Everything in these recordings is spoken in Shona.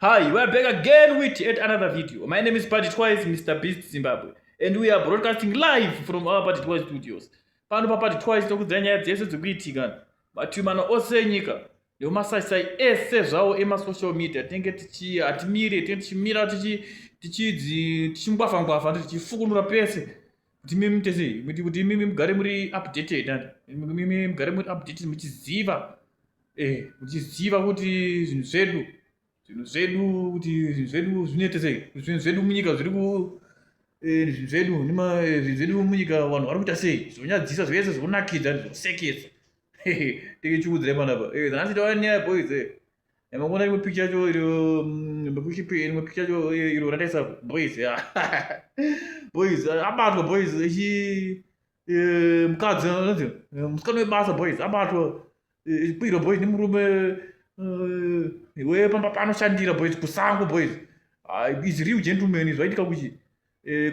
Hi, we are back again with yet another video. My name is Party Twice, Mr. Beast Zimbabwe. And we are broadcasting live from our Party Twice studios. Pano pa Party Twice tokudzira nyaya dzese dzekuitika mativi mana ose enyika Ndo masai sai ese zvawo ema social media tenge tichi hatimire tenge tichimira tichi tichidzi tichingwafa ngwafa tichifukunura pese kuti mimi tese kuti kuti mimi mugare muri updated and mimi mugare muri updated muchiziva eh muchiziva kuti zvinhu zvedu zvinhu zvedu kuti zvinhu zvedu zvinoita sei zvinhu zvedu munyika zviri ku eh, zvinhu zvedu nema eh, zvinhu zvedu munyika vanhu vari kuita sei zvonyadzisa zvese zvokunakidza zvosekesa tenge chiudzire panapa eh, nhasi tava nyaya boys makuona rimwe picha yacho iro mm, makushipi rimwe picha yacho iro rataisa boys boys abatwa boys echi eh, mukadzi eh, musikana webasa boys abatwa kwiro boys nemurume iwe pamba panoshandira boys kusango boys ah, is real gentleman zvaitika kuchi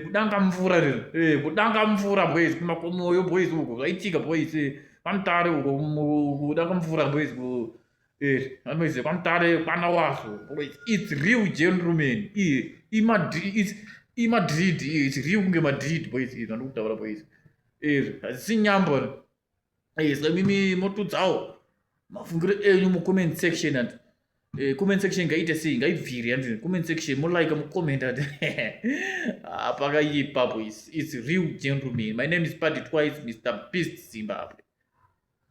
kudanga mvura rero kudanga mvura boys kumakomoyo boys uko zvaitika boys pamutare uko kudanga mvura boys Eh, anoise kwamutare kwana waso its real gentleman imadrid its real kunge madrid boys izvi vanoda kutaura boys izvi eh, hazisi nyambo eh, ska mimi motudzawo mafungiro enyu mucomment section ati eh, comment section ngaite sei ngaibviri andi comment section molike mucomment ati ah, pakaipa boys its real gentleman my name is party twice mr beast zimbabwe